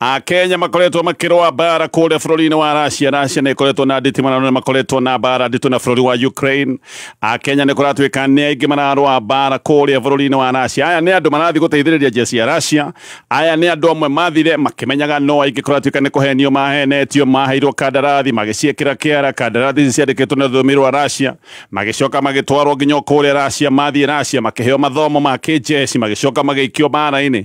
akenya makoretwo makĩrũa mbara kũrĩa bũrũri-inĩ wa russia russia nä ĩkoretwo na nditimanano nä makoretwo na mbara nditå na bũrũri wa ukraine akenya nä kũratuä ka nä aingä mararũa mbara kũrĩa bũrũri-inĩ wa russia aya nä andå marathiĩ gũteithĩrĩria njia cia russia aya nä andå amwe mathire makĩmenyaga no aingä kũratuä ka nä kũhenio mahenetio maheirwo kandarathi magĩciĩkĩra kĩara kandarathi ici ciandĩkĩtwo na rũthiomi rwa russia magĩcoka magĩtwarwo nginya o kũrĩa russia mathiĩ russia makĩheo mathomo ma kĩnjeci magĩcoka magĩikio mbara-inĩ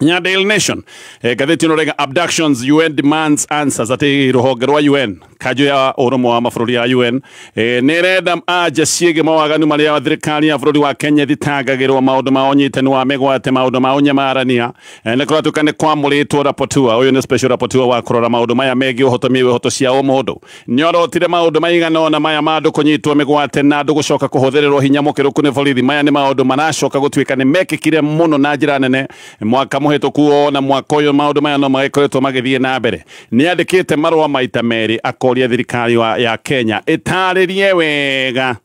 nya daily nation eh, gatheti ĩno rega abductions un demands answers atĩ rũhonge rwa un kanjũ ya ũrũmwe wa mabũrũri ya un eh, nĩ ĩrenda anja ciĩgiĩ mawaganu marĩa thirikari ya bũrũri wa kenya ĩthitangagĩrwo maũndũ ma ũnyitani wa mĩgwate maũndũ ma ũnyamarania eh, nĩ kũratuĩka nĩ kwamũrĩtwo rapotua ũyũ nĩ special rapotua wa kũrora maũndũ maya megiĩ ũhotomia wa ihoto cia ũmũndũ Nĩorotire maũndũ maigana ona maya ma andũ kũnyitwo mĩgwate na andũ gũcoka kũhũthĩrĩrwo hinya mũkĩrũku nĩ borithi. Maya nĩ maũndũ maracoka gũtuĩka nĩ mekĩkire mũno na njĩra nene mwaka mũhĩtũku ona mwaka ũyũ maũndũ maya no magĩkoretwo magĩthiĩ na mbere. Nĩandĩkĩte marũa maita merĩ akoria thirikari ya Kenya ĩtarĩrie wega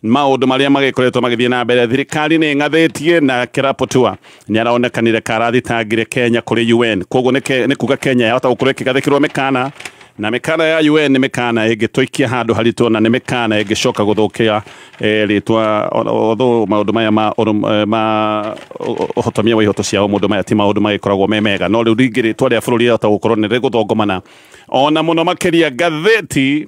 maundu maria magikoretwo magithie na mbere thirikari ni ngathetie na kirapotua ni araonekanire karathitangire Kenya kuri UN koguo ni kuga Kenya yahota gukorwo ikigathikirwo mikana na mikana ya UN ni mikana ingituikia handu haritu na ni mikana ingicoka guthukia eh, ritwa otho maundu maya ma eh, ma uhotomia wa ihoto ciao mundu maya ti maundu magikoragwo me mega no riu ringi ritwa ria bururi yahota gukorwo ni riguthongomana ona muno makiria ngatheti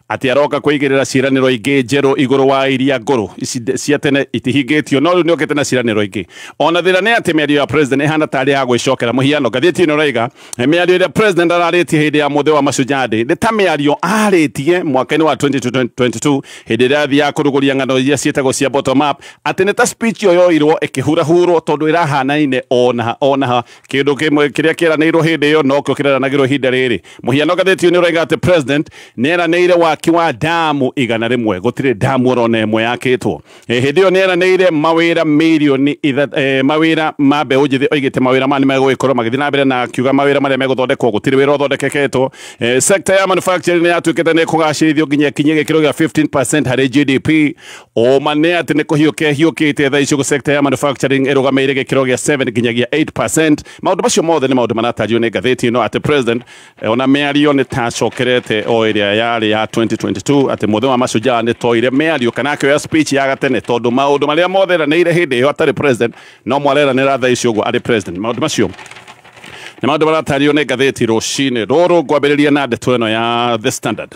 atĩ aroka kwĩigĩrĩra ciĩranĩro ingĩ njerũ igũrũ wa iria ngũrũ ici nde- cia tene itihingĩtio no rĩu nĩokĩte na ciĩranĩro ingĩ ona thĩna nĩ atĩ mĩario ya president ĩhana tarĩ ya gwĩcokera mũhiano ngathĩti ĩno ĩroiga "Eh, mĩario ĩrĩa president ararĩtie hĩndĩ ya mũthĩ wa mashujaa day nĩ ta mĩario arĩtie mwaka-inĩ wa 2022 hĩndĩ ĩrĩa athiaga kũrugũria ng'ano iria ciĩtagwo cia bottom up atĩ nĩ ta speech ĩyo yoirwo ĩkĩhurahurwo tondũ ĩrahanaine onaha onaha kĩndũ kĩmwe kĩrĩa kĩeranĩirwo hĩndĩ ĩyo nokĩo kĩreranagĩrwo ihinda rĩrĩ Mũhiano gathĩti-inĩ ũraiga atĩ president nĩ eranĩire waki wa damu igana rĩmwe gũtirĩ damu orona ĩmwe yakĩtwo. E, hĩndĩ ĩyo nĩ eranĩire mawĩra mirioni e, mawĩra ma mbeũ njĩthĩ oigĩte mawĩra ma nĩ megũgĩkorwo magĩthiĩ na mbere na akiuga mawĩra marĩa megũthondekwo gũtirĩ wĩra ũthondekeketwo. E, sector ya manufacturing nĩ yatuĩkĩte nĩ kũgacĩrithio nginya ĩkinye gĩkĩro gĩa 15% harĩ GDP. Ũma nĩ atĩ nĩ kũhiũkia hiũkĩte thaa icio sector ya manufacturing ĩrũgamĩire gĩkĩro gĩa 7 nginyagia 8% maundu macio mothe nĩ maundu maratarĩrio nĩ ngathĩti ĩno atĩ president eh, ona mĩario nĩ ta acokerete o ĩrĩa yarĩ ya 2022 atĩ mũthenya wa mashujaa nĩ toire mĩario kana akĩoya speech ya gatene tondũ maundu marĩa mothe eranĩire hĩndĩ ĩyo atarĩ president no mwareranĩra thaa ici ũguo arĩ president maundu macio nĩ maundu maratarĩrio nĩ ngathĩti rũcinĩ rũrũ ngwambĩrĩria na ndeto ĩno ya the standard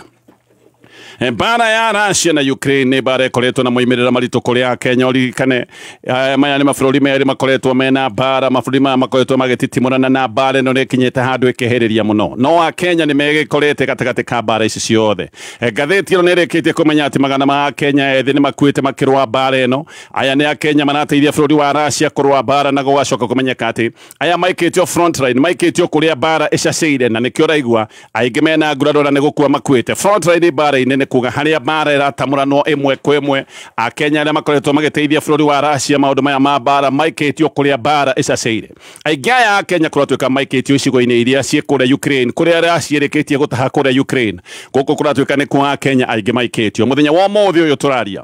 mbara ya Russia na Ukraine nĩ mbara ĩkoretwo na moimĩrĩra maritũ kũrĩ a Kenya ũririkane eh, maya nĩ mabũrũri merĩ makoretwo mena mbara mabũrũri maya makoretwo magĩtitimũrana na mbara ĩno nĩ ĩkinyĩte handũ ĩkĩhĩrĩria mũno no a Kenya nĩ megĩkorete gatagatĩ ka mbara ici ciothe Eh, ngathĩti ĩno nĩ ĩrĩkĩtie kũmenya atĩ magana ma a Kenya ethĩ nĩ makuĩte makĩrũa mbara ĩno aya nĩ a Kenya marateithia bũrũri wa Russia kũrũa mbara na gũgacoka kũmenyeka atĩ aya maikĩtio frontline maikĩtio kũrĩa mbara ĩcacĩire na nĩkĩo ũraigua Aingĩ mena nguraro na nĩ gũkua makuĩte. Frontline mbaara-inĩ nĩ kuga harĩa mbaara ĩratamũranwo ĩmwe kwa ĩmwe. Akenya arĩa makoretwo magĩteithia bũrũri wa Russia maũndũ maya ma mbaara maikĩtio kũrĩa mbaara ĩcacĩire. Aingĩ aya Akenya kũratuĩka maikĩtio icigo-inĩ iria ciĩ kũrĩa Ukraine kũrĩa Russia ĩrĩkĩtie gũtaha kũrĩa Ukraine. Gũkũ kũratuĩka nĩkuo Akenya aingĩ maikĩtio. Mũthenya wa ũmũthĩ ũyũ tũraria.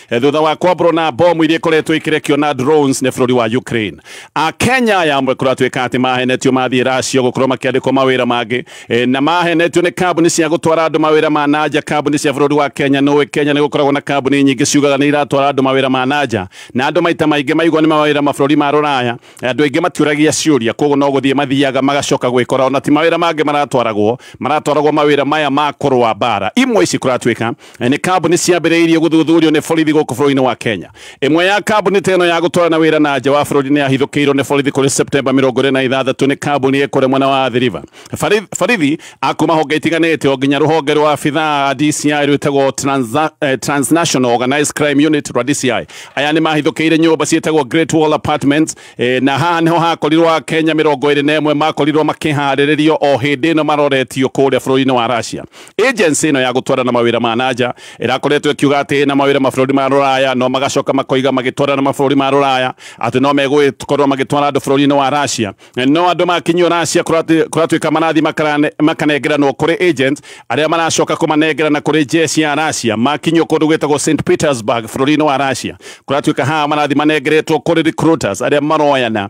Eh, thutha wa kwambũrwo na mbomu iria ikoretwo ikirekio na drones nĩ bũrũri wa Ukraine a Kenya aya amwe kũratuĩka atĩ mahenetio mathiĩ Russia gũkorwo makĩandĩkwo mawĩra mangĩ eh, na mahenetio nĩ kambuni cia gũtwara andũ mawĩra ma nanja kambuni cia bũrũri wa Kenya nũĩ Kenya nĩ gũkoragwo na kambuni nyingĩ ciugaga nĩ iratwara andũ mawĩra ma nanja na andũ maita maingĩ maigua nĩ mawĩra mabũrũri ma rũraya eh, andũ aingĩ matiũragia ciũria koguo no gũthiĩ mathiaga magacoka gwĩkora ona ti mawĩra mangĩ maratwaragwo maratwaragwo mawĩra maya ma kũrũa mbara imwe ici kũratuĩka Eh, nĩ kambuni ciambĩrĩirie gũthuthurio nĩ borithi gũkũ bũrũri-inĩ wa Kenya. Ĩmwe ya kambuni ta ĩno ya gũtwarana wĩra na nja wa bũrũri nĩ yahithũkĩirwo nĩ borithi kũrĩ Septemba mĩrongo ĩrĩ na ithathatũ nĩ kambuni ĩ kũrĩa mwena wa Athi River. Bari- Borithi a kuma honge itiganĩte o nginya rũhonge rwa abithaa a DCI rwĩtagwo Transa- eh, Transnational Organized Crime Unit rwa DCI. Aya nĩ mahithũkĩire nyũmba ciĩtagwo Great Wall Apartments eh, na haha nĩho hakorirwo Akenya mĩrongo ĩrĩ na ĩmwe makorirwo makĩharĩrĩrio o hĩndĩ ĩno maroretio kũrĩa bũrũri-inĩ wa Russia. Agency ĩno ya gũtwarana mawĩra ma nanja ĩrakoretwo ĩkiuga atĩ na mawĩra mabũrũri ma rũraya no magacoka makoiga magĩtwarana mabũrũri ma rũraya atĩ no megũkorwo magĩtwara andũ bũrũri-inĩ wa Russia no andũ makinyio Russia kũratuĩka marathiĩ makanengeranwo kũrĩ agent arĩa maracoka kũmanengerana kũrĩ jeshi ya Russia makinyio kũndũ gwĩtagwo St Petersburg bũrũri-inĩ wa Russia kũratuĩka haha marathiĩ manengeretwo kũrĩ recruiters arĩa maroyana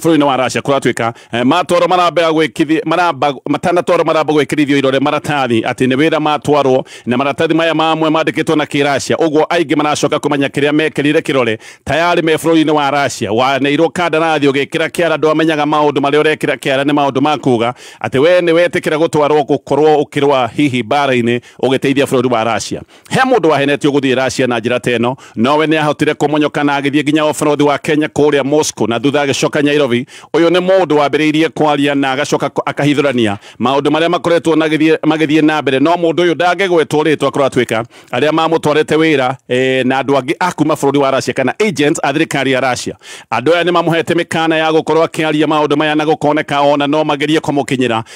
bũrũri-inĩ wa Russia kũratuĩka eh, matwarwo maramba gwĩkithio maramba matanatwarwo maramba gwĩkĩrithio irore maratathi atĩ nĩ wĩra matwarwo na maratathi maya mamwe mandĩkĩtwo na kĩracia ũguo aingĩ maracoka kũmenya kĩrĩa mekĩrire kĩrore tayarĩ me bũrũri-inĩ wa Russia waneirwo kandarathi ũgĩkĩra kĩara andũ amenyaga maũndũ marĩa ũrekĩra kĩara nĩ maũndũ ma kuga atĩ we nĩ wetĩkĩra gũtwarwo gũkorwo ũkĩrũa hihi mbara-inĩ ũgĩteithia bũrũri wa Russia He mũndũ wahenetio gũthiĩ Russia na njĩra ta ĩno, nowe nĩ ahotire kũmonyoka na agĩthiĩ nginya ũbarũthi wa Kenya kũrĩa Moscow na thutha agĩcoka Nyairobi. Ũyũ nĩ mũndũ wambĩrĩirie kwaria na agacoka akahithũrania maũndũ marĩa makoretwo magĩthiĩ na mbere, no mũndũ ũyũ ndangĩgwetwo rĩtwa kũratuĩka arĩa mamũtwarĩte wĩra e, na andũ angĩ a kuma bũrũri wa Russia kana agents a thirikari ya Russia. Andũ aya nĩ mamũhete mĩkana ya gũkorwo akĩaria maũndũ maya na gũkoneka ona no magerie kũmũkinyĩra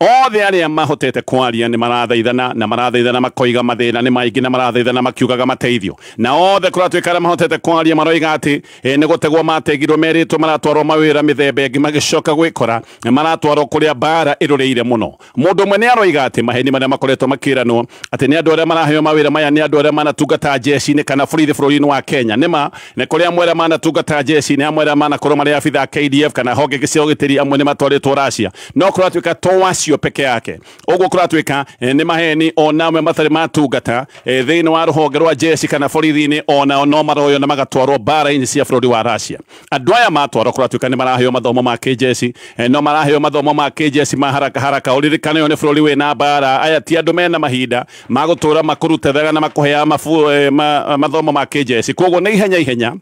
Othe arĩa mahotete kwaria nĩ marathaithana na marathaithana makoiga mathĩna nĩ maingĩ na marathaithana makiugaga mateithio. Na othe kũratuĩka arĩa mahotete kwaria maroiga atĩ e, nĩ gũtegwo mategirwo merĩtwo maratwarwo mawĩra mĩthemba ĩngĩ magĩcoka gwĩkora maratwarwo kũrĩa mbaara ĩrũrĩire mũno. Mũndũ ũmwe nĩ aroiga atĩ maheni marĩa makoretwo makĩranwo atĩ nĩ andũ arĩa maraheo mawĩra maya nĩ andũ arĩa manatungata njeci-inĩ kana borithi bũrũri-inĩ wa Kenya nĩ ma, nĩ kũrĩ amwe arĩa manatungata njeci-inĩ, amwe arĩa manakorwo marĩ abitha a KDF kana honge ingĩ cia ũgitĩri, amwe nĩ matwarĩtwo Russia. no korwo atuika to wacio peke yake uguo korwo atuika eh, ni maheni ona amwe matari matungata eh, thiini wa ruhonge rwa jeshi kana borithi-ini onao no maroyo na magatwarwo mbara-inĩ cia bũrũri wa Russia andũ aya matwarwo korwo atuika ni maraheo mathomo ma kĩjeshi eh, no maraheo mathomo ma kĩjeshi ma haraka haraka ũririkane ũyũ nĩ bũrũri wĩna mbara aya ti andũ mena mahinda ma gũtũra makũrutethega na makũheaga mabu- eh, ma- mathomo ma kĩjeshi koguo nĩ ihenya ihenya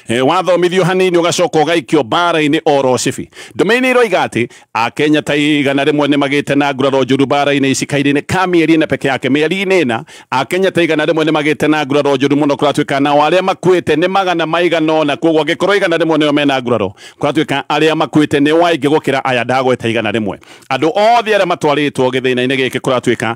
E, wathomithio hanini ugacoka ugaikio mbara-inĩ oro cibi ndume-inĩ iroiga atĩ akenya ta igana rĩmwe nĩ magĩte na nguraro njũru mbara-inĩ ici kahinda-inĩ ka mĩeri ĩna peke yake mĩeri-inĩ ĩna akenya ta igana rĩmwe nĩ magĩte na nguraro njũru mũno kũratuĩka nao arĩa makuĩte nĩ magana maigana ũna koguo angĩkorwo igana rĩmwe nĩo mena nguraro kũratuĩka arĩa makuĩte nĩ waingĩ gũkĩra aya ndagweta igana rĩmwe andũ othe arĩa matwarĩtwo gĩthĩna-inĩ gĩkĩ kũratuĩka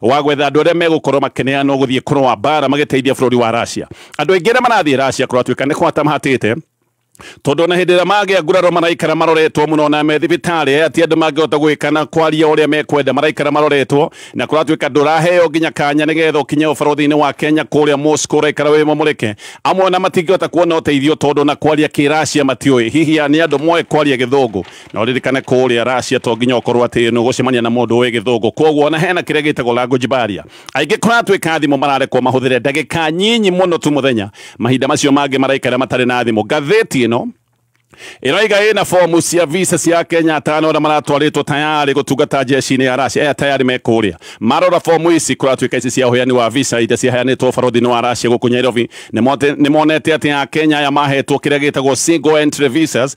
wa gwetha andũ arĩa megũkorwo makĩneanwo gũthiĩ kũrũa mbaara magĩteithia bũrũri wa Russia. Andũ aingĩ arĩa marathiĩ Russia kũratuĩka nĩ kũhata mahatĩte tondũ na hĩndĩ ĩrĩa magĩa nguraro maraikara maroretwo mũno na me thibitarĩ ati andũ mangĩhota gwĩka na kwaria ũrĩa mekwenda maraikara maroretwo na kũratuĩka ndũraheo nginya kanya nĩgetha ũkinye ũbarũthi-inĩ wa Kenya kũrĩa Moscow ũraikara wĩ mũmũrĩke amwe na matingĩhota kuona ũteithio tondũ na kwaria kĩracia matiũĩ hihi nĩ andũ moĩ kwaria gĩthũngũ na ũririkane kũrĩa Russia to nginya ũkorwo atĩ nĩ ũgũcemania na mũndũ ũĩ gĩthũngũ koguo ona hena kĩrĩa gĩtagwo language barrier aingĩ kũratuĩka thimũ mararekwo mahũthĩre ndagĩka nyinyi mũno tu mũthenya mahinda macio mangĩ maraikara matarĩ na thimũ ngathĩti ĩno ĩroiga ĩna fomu cia visa cia Kenya atano arĩa maratwarĩtwo tayarĩ gũtungata njeci-inĩ ya Russia aya tayarĩ me kũrĩa marora fomu ici kũratuĩka ici cia ũheani wa visa iria ciheanĩtwo barothi-inĩ wa Russia gũkũ Nairobi nĩ monete atĩ a Kenya aya mahetwo kĩrĩa gĩtagwo single entry visas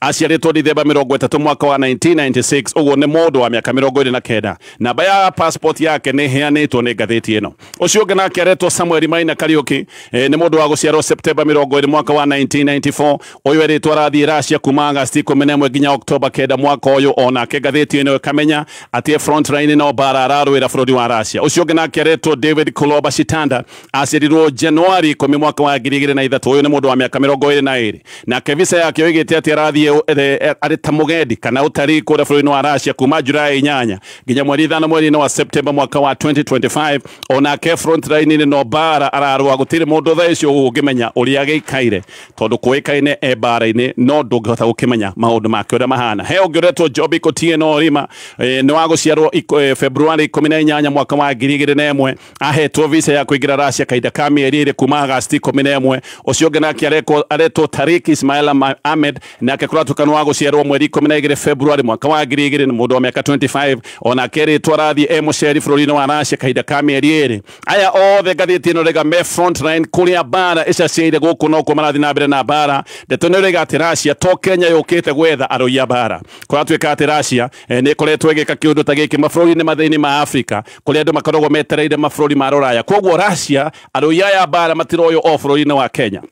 aciarĩtwo Dithemba mĩrongo ĩtatũ mwaka wa 1996 ũguo nĩ mũndũ wa mĩaka mĩrongo ĩrĩ na kenda namba ya passport yake nĩ ĩheanĩtwo nĩ ngathĩti ĩno ũcio ũngĩ nake aretwo Samuel Maina Kariuki e, nĩ mũndũ wa gũciarwo Septemba mĩrongo ĩrĩ mwaka wa 1994 ũyũ erĩtwo arathiĩ Russia kuma Agasti ikũmi na ĩmwe nginya Oktoba kenda mwaka ũyũ onake ngathĩti ĩno ĩkamenya atĩ e front line no bara ararũĩra bũrũri wa Russia ũcio ũngĩ nake aretwo David Kuloba Shitanda Aciarirwo Januari ikũmi mwaka wa ngiri igĩrĩ na ithatũ. Ũyũ nĩ mũndũ wa mĩaka mĩrongo ĩrĩ na ĩrĩ nake visa yake oigĩte atĩ arathiĩ ũ- e- e- arĩ ta mũgendi kana ũtarii kũrĩa bũrũri-inĩ wa Russia kuma Julai inyanya nginya mweri ithano mweri-inĩ wa September mwaka wa 2025 onake frontline-inĩ no mbara ararũa gũtirĩ mũndũ thaa icio ũngĩmenya ũrĩa gĩikaire tondũ kũĩkaine e mbara-inĩ no ndũngĩhota gũkĩmenya maũndũ make ũrĩa mahana he ũngĩ ũretwo Jobi Kotieno Orima eh, nĩ wa gũciarwo iko- eh, Februari ikũmi na inyanya mwaka wa ngiri igĩrĩ na ĩmwe ahetwo visa ya kuingira Russia kahinda ka mieri iri kuma Agasti ikumi na imwe ucio ungi nake arekwo- aretwo Tarik Ismail Ama- Ahmed nake kuratuka ni wa guciarwo mweri ikumi na igiri February mwaka wa ngiri igiri ni mundu wa miaka 25 onake ritwa arathie e muceri bururi-ini wa Russia kahinda ka mieri iri aya othe ngathiti ino rega me frontline kuria bara icaciaire guku no kuo marathi na mbere na bara ndeto ni rega ati Russia to Kenya yukite gwetha aroi a bara kuratuika ati Russia Eh, nä ĩkoretwo ĩgĩka kä å ndå ta gä kä mabũrũri-inĩ mathä-inĩ ma Afrika kå rä andå makoragwo metereire mabũrũri ma rũraya koguo Russia arũi aya mbara matiroywo o bũrũri-inĩ wa Kenya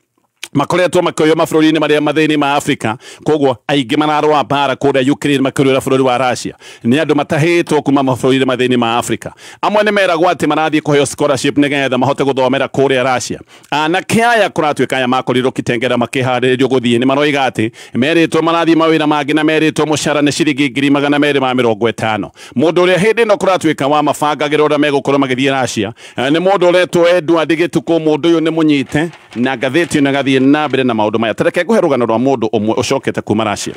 makoretwo makĩoywo mabũrũri-inĩ marĩa mathĩinĩ ma Afrika koguo aingĩ mararũa mbara kũrĩa Ukraine makĩrũĩra bũrũri wa Russia nĩ andũ matahĩtwo kuma mabũrũri-inĩ mathĩinĩ ma Afrika amwe nĩ meragwo atĩ marathiĩ kũheo scholarship nĩgetha mahote gũthomera kũrĩa Russia Anake aya kũratuĩka aya makorirwo Kitengela makĩharĩrĩrio gũthiĩ nĩ maroiga atĩ merĩtwo marathiĩ mawĩra mangĩ na merĩtwo mũcara nĩ ciringi ngiri magana merĩ ma mĩrongo ĩtano. Mũndũ ũrĩa hĩndĩ ĩno kũratuĩka wa mabangagĩra ũrĩa megũkorwo magĩthiĩ Russia nĩ mũndũ ũretwo Edward Gĩtukũ. Mũndũ ũyũ nĩ mũnyite na ngathĩti ĩno ĩgathiĩ na mbere na maũndũ maya, ta reke ngũhe rũgano rwa mũndũ ũmwe ũcokete kuma Russia.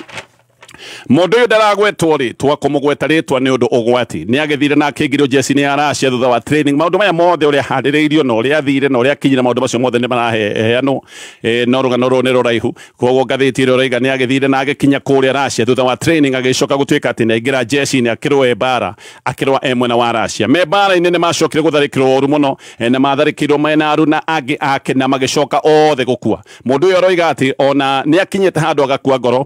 Mũndũ ũyũ ndaragwetwo rĩtwa kũmũgweta rĩtwa nĩ ũndũ ũgwati nĩ agĩthire na akĩingĩrio njeci-inĩ ya Russia thutha wa training maũndũ maya mothe ũrĩa ahandĩrĩirio na ũrĩa athire na ũrĩa akinyire maũndũ macio mothe nĩ maraheanwo e, no rũgano rũrũ nĩ rũraihu koguo ngathĩti ĩrĩa ũraiga nĩ agĩthire na agĩkinya kũrĩa Russia thutha wa training agĩcoka gũtuĩka atĩ nĩ aingĩra njeci-inĩ akĩrũe mbara akĩrũa e mwena wa Russia me mbara-inĩ nĩ macokire gũtharĩkĩrwo ũru mũno e, na matharĩkĩirwo mena aru na angĩ ake na magĩcoka othe gũkua mũndũ ũyũ aroiga atĩ ona nĩ akinyĩte handũ agakua ngoro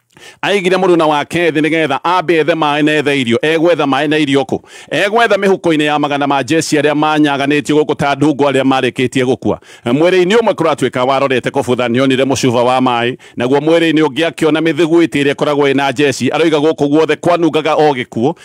aigire mũruna wake thĩ nĩgetha ambe ethe maĩ na ethe irio egwetha maĩ na irio kũ egwetha mĩhuko-inĩ ya magana ma jesi arĩa manyaganĩtio gũkũ ta ndungu arĩa marĩkĩtie gũkua mwĩrĩ-inĩ ũmwe kũratuĩka warorete kũbutha nĩonire mũcuba wa maĩ naguo mwĩrĩ-inĩ ũngĩ akĩona mĩthiguiti ĩrĩa ĩkoragwo ĩna jesi aroiga gũkũ guothe kwanungaga o gĩkuũ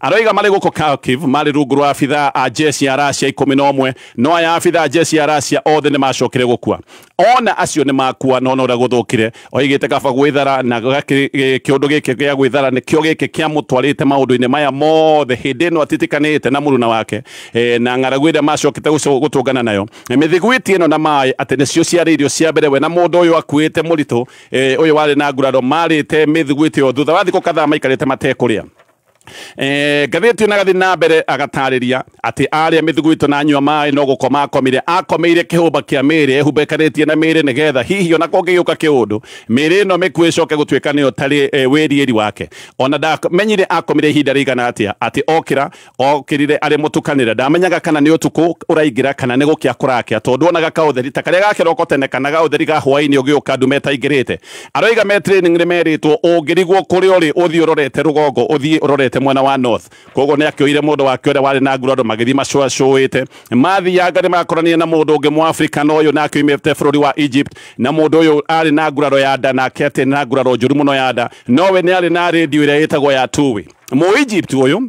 Aroiga marĩ gũkũ Kharkiv marĩ rungu rwa abithaa a njeci ya Russia ikũmi na ũmwe, no aya abithaa a njeci ya Russia othe nĩ maacokire gũkua. O na acio nĩ maakua, no no ũrĩa gũthũkire. Oigĩte kaba gwĩthara, na kĩũndũ gĩkĩ gĩa gwĩthara nĩkĩo gĩkĩ kĩamũtwarĩte maũndũ-inĩ maya mothe. Hĩndĩ ĩno atitikanĩte na mũruna wake na ng'aragu ĩrĩa maacokete gũtũngana nayo. Mĩthiguiti ĩno na maĩ atĩ nĩcio ciarĩ irio cia mbere we na mũndũ ũyũ akuĩte mũritũ ũyũ warĩ na nguraro maarĩte mĩthiguiti ĩyo thutha wa thikũ kadhaa maikarĩte matekũrĩa. Eh, ngathĩti na gathi na mbere agatarĩria atĩ arĩa mĩthuguito na nyua maĩ no gũkoma akomire akomeire kĩhũmba kĩa mĩĩrĩ ĩhumbekanĩtie na mĩĩrĩ nĩgetha hihi ona kũngĩgĩũka kĩũndũ mĩĩrĩ ĩno mĩkuũ ĩcoke gũtuĩka nĩyo tarĩ eh, wĩriĩri wake ona ndamenyire akomire ihinda rĩigana atĩa atĩ okĩra okĩrire arĩ mũtukanĩre ndamenyaga kana nĩ ũtukũ ũraingĩra kana nĩ gũkĩa kũrakĩa tondũ onaga kaũtheri ta karĩa ga kĩroko tene kana ga ũtheri ga hwaĩ-inĩ ũgĩũka ndume ĩtaingĩrĩte Aroiga me training nĩ merĩtwo ũngĩrigwo kũrĩa ũrĩ ũthiĩ ũrorete rũgongo ũthiĩ ũrorete mwena wa north koguo nĩ akĩoire mũndũ wake ũrĩa warĩ na ngura andũ magĩthiĩ macũacũĩte mathianga nĩ makoranire na mũndũ ũngĩ mũafrika na ũyũ nake oimĩte bũrũri wa Egypt na mũndũ ũyũ arĩ na nguraro ya nda nake atĩ nĩ na nguraro njũru mũno ya nda nowe nĩ arĩ na radio ĩrĩa ĩtagwo ya tuwi mũ Egypt ũyũ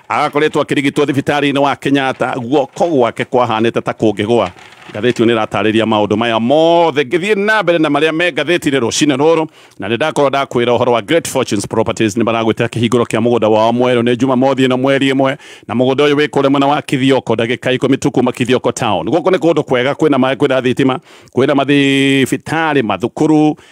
agakoretwo akĩrigitwo thibitarĩ-inĩ wa Kenyatta guoko gwake kwahanĩte ta kũngĩgwa ngathĩti ĩyo nĩ ĩratarĩria maũndũ maya mothe ngĩthiĩ na mbere na marĩa me ngathĩti-inĩ rũcinĩ rũrũ na nĩ ndakorwo ndakwĩra ũhoro wa Great Fortunes Properties nĩ maragwĩtĩra kĩhingũro kĩa mũgũnda wao mwerũ nĩ Jumamothi ĩno mweri ĩmwe na mũgũnda ũyũ wĩ kũrĩa mwena wa Kithioko ndagĩka ikũmi tu kuma Kithioko town gũkũ nĩ kũndũ kwega kwĩna maĩ kwĩna thitima kwĩna mathibitarĩ mathukuru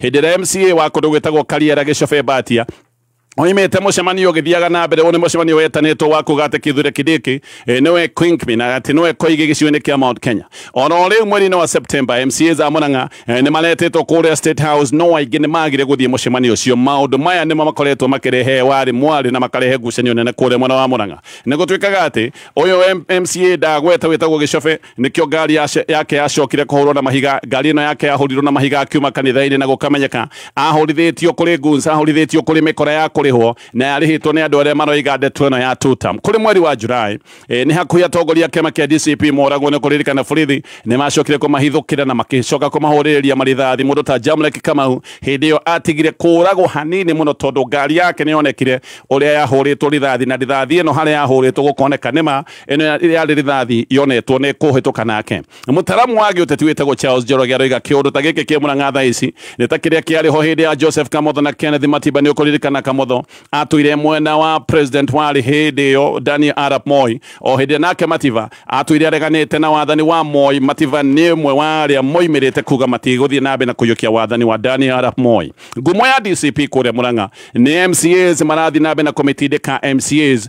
hĩndĩ ĩrĩa mca wa kũndũ gwĩtagwo kariera gĩcobe mbatia oimĩte mũcemanio ũgĩthiaga na mbere ũyũ nĩ mũcemanio wetanĩtwo wa kuga atĩ kithure kidiki eh, nĩwe quinkmi na atĩ nĩwe koigi gĩcigo-inĩ kĩa mount kenya ona o rĩu mweri-inĩ wa september mca za mũrang'a eh, nĩ maretĩtwo kũrĩa state house no aingĩ nĩ magire gũthiĩ mũcemanio ũcio maũndũ maya nĩmo makoretwo makĩrehe warĩ mwarĩ na makarehe ngucanio nene kũrĩa mwena wa mũrang'a nĩ gũtuĩkaga atĩ ũyũ M- mca ndagweta wĩtagwo gĩcobe nĩkĩo ngari yake yacokire kũhũrwo na mahiga ngari ĩno yake yahũrirwo na mahiga akiuma kanitha-inĩ na gũkamenyeka ahũrithĩtio kũrĩ guns ahũrithĩtio kũrĩ mĩkora ya kũrĩhwo na yarĩhĩtwo nĩ andũ arĩa maroiga ndeto ĩno ya tutam kũrĩ mweri wa jurai e, nĩ hakuhĩ atongoria kĩama kĩa dcp moragwo nĩ kũririkana borithi nĩ macokire kũmahithũkĩra na makĩcoka kũmahũrĩrĩria marithathi mũndũ ta jamlek kamau hĩndĩ ĩyo atigire kũragwo hanini mũno tondũ ngari yake nĩ yonekire ũrĩa yahũrĩtwo rithathi na rithathi ĩno harĩa yahũrĩtwo gũkoneka nĩma ĩno ya- yarĩ rithathi yonetwo nĩ kũhĩtũka nake mũtaramu wa gĩũteti wĩtagwo charles njoroge aroiga kĩũndũ ta gĩkĩ kĩ mũrang'a thaa ici nĩ ta kĩrĩa kĩarĩ ho hĩndĩ ya joseph kamotho na kenneth matiba nĩ ũkũririkana kamotho atũire mwena wa president warĩ hĩndĩ ĩyo daniel arap moi o hĩndĩ ĩyo nake matiba atũire areganĩte na wathani wa moi matiba nĩ ũmwe wa arĩa moimĩrĩte kuga matigũthiĩ na mbere na kũiyũkia wathani wa daniel arap moi ngumo ya dcp kũrĩa mũrang'a nĩ mcas marathiĩ na mbere na kũmĩtindĩka mcas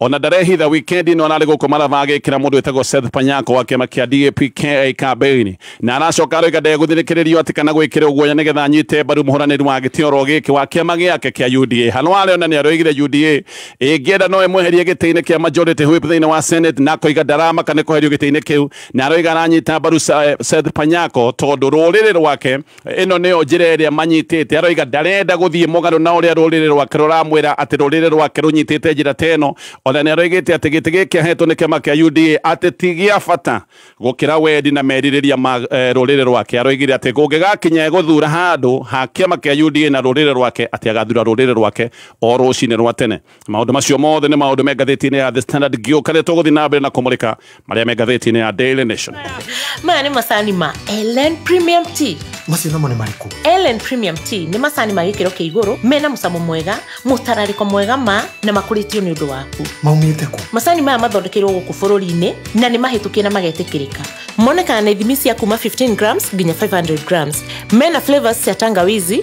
ona ndarehitha wikendi ĩno ararĩ gũkũ maraba agĩkĩra mũndũ wĩtagwo Seth Panyako wa kĩama kĩa DAP KA kambĩini na aracoka aroiga ndegũthirĩkĩrĩrio atĩ kana gwĩkĩrwo guoya nĩgetha anyite mbaru mũhũranĩri wa gĩtĩ oro gĩkĩ wa kĩama gĩake kĩa UDA hano arĩ ona nĩaroigire UDA ĩngĩenda no ĩmweherie gĩtĩ-inĩ kĩa majority whip thĩinĩ wa Senate na akoiga ndaramaka nĩ kweherio gĩtĩ-inĩ kĩu na aroiga aranyita mbaru Sa- Seth Panyako tondũ rũrĩrĩ rwake Ĩno nĩyo njĩra ĩrĩa manyitĩte. Aroiga ndarenda gũthiĩ mũgarũ na ũrĩa rũrĩrĩ rwake rũramwĩra atĩ rũrĩrĩ rwake rũnyitĩte njĩra ta ĩno. O na nĩ aroigĩte atĩ gĩtĩ gĩkĩ aheetwo nĩ kĩama kĩa UDA atĩ ti gĩa bata gũkĩra wendi na merirĩria ma rũrĩrĩ rwake. Aroigire atĩ kũngĩgakinya egũthuura handũ ha kĩama kĩa UDA na rũrĩrĩ rwake atĩ agathura rũrĩrĩ rwake o rũcinĩ rwa tene. Maũndũ macio mothe nĩ maũndũ me ngathĩti-inĩ ya The Standard ngĩũka rĩrĩa tũgũthiĩ na mbere na kũmũrĩka marĩa me ngathĩti-inĩ ya Daily Nation. maya nĩ macani ma ellen premium tea macio namo nĩ marĩkũ ellen premium tea nĩ macani ma gĩkĩro kĩa igũrũ mena mũcamo mwega mũtararĩko mwega ma na makũrĩtio nĩ ũndũ waku maumĩte kũ macani maya mathondekeirwo gũkũ bũrũri-inĩ na nĩ mahĩtũkie na magetĩkĩrĩka monekaga na ithimi cia kuma 15 grams nginya 500 grams mena flavors cia tangawizi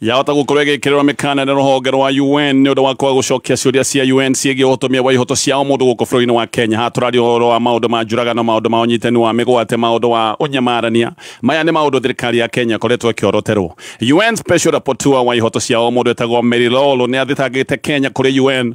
yahota gukorwo igikirwa mikana ni ruhonge rwa UN ni undu wa kwaga gucokia ciuria cia UN ciĩgiĩ ũhotomia wa ihoto cia mũndũ gũkũ bũrũri-inĩ wa Kenya hatũrari ũhoro wa maũndũ ma njũragano maũndũ ma ũnyitani wa mĩgwate maũndũ wa ũnyamarania maya nĩ maũndũ thirikari ya Kenya ĩkoretwo ĩkĩoroterwo UN Special Rapporteur wa ihoto cia mũndũ etagwo Mary Lolo nĩ athitangĩte Kenya kũrĩ UN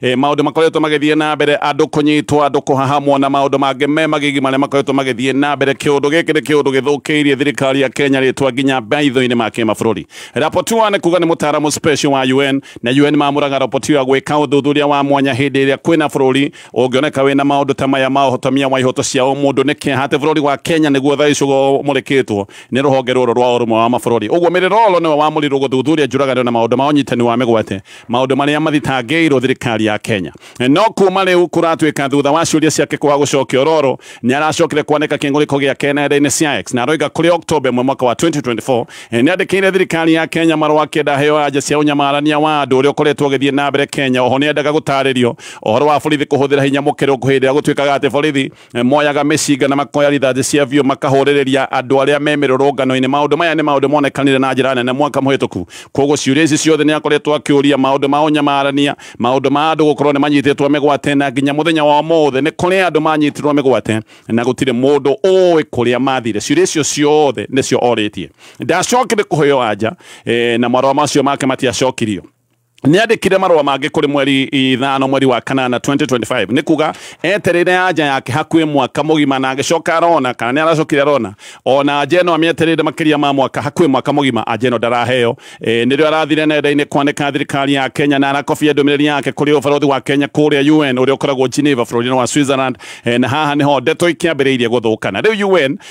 e, maundu makoretwo magithie na mbere andu kunyitwa andu kuhahamwo na maundu mangi me magigi maria makoretwo magithie na mbere kiundu giki ni kiundu githukiirie thirikari ya Kenya ritwa nginya maitho-ini ma kimabururi Rapotua ni kuga ni mutaramu special wa UN na UN mamuraga Rapotua gwika uthuthuria wa mwanya hindi iria kwina bururi ungioneka wina maundu ta maya ma uhotomia wa ihoto cia umundu ni kiaha ati bururi wa Kenya niguo thaa ici umurikitwo ni ruhonge ruru rwa urumwe wa mabururi uguo mirirolo niwe wamurirwo guthuthuria njuraganio na maundu ma unyitani wa migwate maundu maria mathitangĩirwo thirikari ya Kenya no kuma riu kuratuika thutha wa ciuria ciake kwaga gucokio roro ni aracokire kwanĩka kĩng'ũrĩko gĩake nenda-inĩ cia X na aroiga kũrĩ October 1 mwaka wa 2024 eh, nĩ andĩkĩire thirikari ya Kenya marũa akĩenda heo anja cia ũnyamarania wa andũ ũrĩa ũkoretwo ũgĩthiĩ na mbere Kenya oho nĩ endaga gũtarĩrio ũhoro wa borithi kũhũthĩra hinya mũkĩrũku hĩndĩ ĩrĩa gũtuĩkaga atĩ borithi moyaga mĩcinga na makoya rithathi cia biũ makahũrĩrĩria andũ arĩa me mĩrũrũngano-inĩ maũndũ maya nĩ maũndũ monekanire na njĩra nene mwaka mũhĩtũku koguo ciũria ici ciothe nĩ akoretwo akĩũria maũndũ ma ũnyamarania maũndũ ma andũ gũkorwo nĩ manyitĩtwo mĩgwate na nginya mũthenya wa ũmũthĩ nĩ kũrĩ andũ manyitirwo mĩgwate na gũtirĩ mũndũ ũĩ kũrĩa mathire ciũria icio ciothe nĩcio orĩtie ndacokire kũheo anja eh, na marũa macio make matiacokirio nĩandĩkire marũa mangĩ kũrĩ mweri ithano mweri wa kanana 2025 nĩ kuga etereire anja yake hakuhĩ mwaka mũgima na agĩcoka arona kana nĩ aracokire arona ona anja ĩno amĩetereire makĩria ma mwaka hakuhĩ mwaka mũgima anja ĩno ndaraheo e, nĩrĩo arathire nenda-inĩ kwanĩka thirikari ya kenya na arakobia ndũmĩrĩri yake kũrĩ ũbarothi wa kenya kũrĩa un ũrĩa ũkoragwo geneva bũrũri-inĩ wa switzerland e, na haha nĩho ndeto ikĩambĩrĩirie gũthũkana rĩu un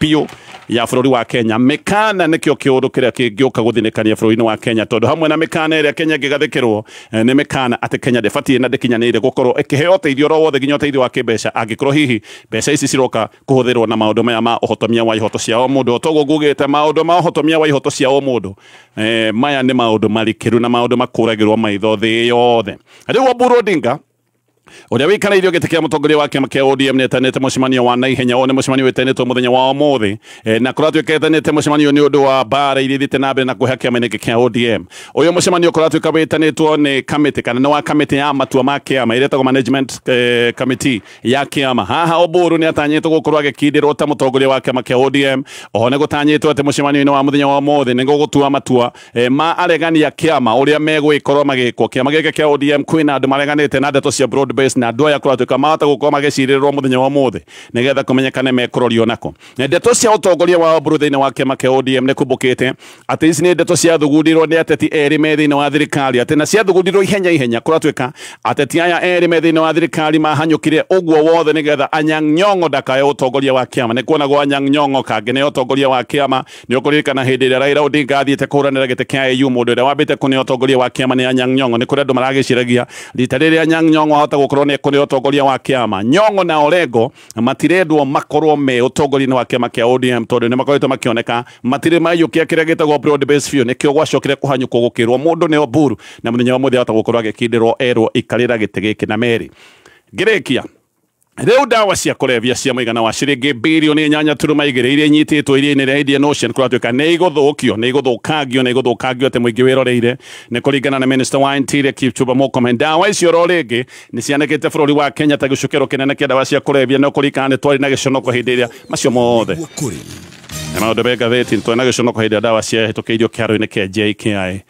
biũ ya bũrũri wa kenya mĩkana nĩkĩo kĩũndũ kĩrĩa kĩngĩũka gũthinĩkania bũrũri-inĩ wa kenya tondũ hamwe na mĩkana ĩrĩa kenya ĩngĩgathĩkĩrwo eh, nĩ mĩkana atĩ kenya ndĩbatiĩ na ndĩkinyanĩire gũkorwo ĩkĩheo ũteithio oro wothe nginya ũteithio wa kĩmbeca angĩkorwo hihi mbeca ici ciroka kũhũthĩrwo na maũndũ maya ma ũhotomia wa ihoto cia o mũndũ otoguo ngugĩte maũndũ ma ũhotomia wa ihoto cia o mũndũ eh, maya nĩ maũndũ marikĩru na maũndũ makũragĩrwo maitho thĩ yothe rĩu Oburu Odinga uria wikaraire gite kia mutongoria wa kiama kia ODM netanite mucemanio wa naihenya o ni mucemanio wetanitwo muthenya wa umuthi e, na kuratuika etanite mucemanio ni undu wa bara iria ithite na mbere na kuha kiama ingi kia ODM uyu mucemanio kuratuika witanitwo ni kamiti kana ni wa kamiti ya matua ma kiama iria tagwo management eh, committee ya kiama haha oburu ni atanyitwo gukorwo agikindirwo ta mutongoria wa kiama kia ODM oho ni gutanyitwo ati mucemanio-ini wa muthenya wa umuthi ni gugutua matua e, ma aregania kĩama ũrĩa megwĩkorwo magĩkwo kĩama gĩkĩ kĩa ODM kwĩna andũ mareganĩte na ndeto cia broad base na andũ aya kũratuĩka mahota gũkorwo magĩcirĩrwo mũthenya wa ũmũthĩ nĩgetha kũmenyekane mekũrorio nako ndeto cia ũtongoria wa Oburu thĩinĩ wa kĩama kĩa ODM nĩ kumbũkĩte atĩ ici nĩ ndeto ciathugundirwo nĩ ateti erĩ me thĩinĩ wa thirikari atĩ na ciathugundirwo ihenya ihenya kũratuĩka ateti aya erĩ me thĩinĩ wa thirikari mahanyũkire ũguo wothe nĩgetha Anyang' Nyong'o ndakae ũtongoria wa kĩama nĩ kuonagwo Anyang' Nyong'o kangĩ nĩ ũtongoria wa kĩama Nĩ ũkũririkana hĩndĩ ĩrĩa Raila Odinga athiĩte kũhũranĩra gĩtĩ kĩa AU, mũndũ ũrĩa wambĩte kũneo ũtongoria wa kĩama nĩ Anyang' Nyong'o. Nĩ kũrĩ andũ maragĩciragia rita rĩrĩ Anyang' Nyong'o ahota gũkorwo nĩ ekũneo ũtongoria wa kĩama. Nyong'o na Orengo matirendwo makorwo me ũtongoria-inĩ wa kĩama kĩa ODM tondũ nĩ makoretwo makĩoneka matirĩ maiyũkia kĩrĩa gĩtagwo broad base biũ. Nĩkĩo gwacokire kũhanyũkwo gũkĩrwo mũndũ nĩ Oburu na mũthenya wa ũmũthĩ ahota gũkorwo agĩkindĩrwo erwo ikarĩra gĩtĩ gĩkĩ. Na Mary, ngĩrĩkia, Rĩu ndawa cia kũrebia cia mũigana wa ciringi birioni inyanya turuma igĩrĩ iria inyitĩtwo iria-inĩ rĩa Indian Ocean kũratuĩka nĩ igũthũkio nĩ igũthũkangio nĩ igũthũkangio atĩ mũingĩ wĩroreire nĩ kũringana na minista wa interior Kipchumba Murkomen ndawa icio ro rĩngĩ nĩ cianĩkĩte bũrũri wa Kenya ta gĩcukĩro kĩnene kĩa ndawa cia kũrebia no kũringana nĩ twarĩ na gĩconoko hĩndĩ ĩrĩa macio mothe nĩ maũndũ me ngathĩti nĩ twarĩ na gĩconoko hĩndĩ ĩrĩa ndawa ciahĩtũkĩirio kĩharo-inĩ kĩa JKI